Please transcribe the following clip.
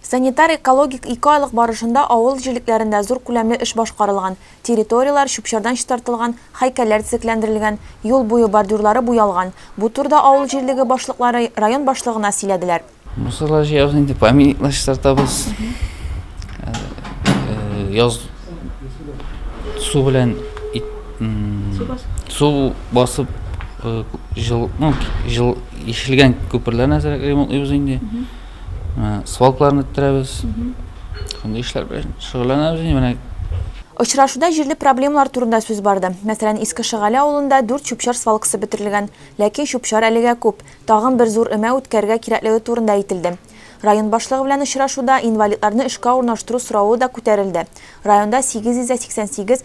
Санитар-экологик ике айлык барышында авыл җирлекләрендә зур күләмле эш башкарылган, территорияләр чүп-чардан чистартылган, һәйкәлләр төзекләндерелгән, юл буе бордюрлары буялган. Бу турыда авыл җирлеге башлыклары район башлыгына сөйләделәр. Мусорлар җыябыз инде, памятниклар чистартабыз. Яз су белән су басып җылытмау, җылы ишелгән күперләрне әзрәк ремонтлыйбыз инде. Свалкаларны үттерәбез. Шундый эшләр белән шөгыльләнәбез инде менә. Очрашуда җирле проблемалар турында сүз барды. Мәсәлән, Иске Шыгале авылында дүрт чүп-чар свалкасы бетерелгән. Ләкин чүп-чар әлегә күп. Тагын бер зур өмә үткәрергә кирәклеге турында әйтелде. Район башлыгы белән очрашуда инвалидларны эшкә урнаштыру соравы да күтәрелде. Районда 888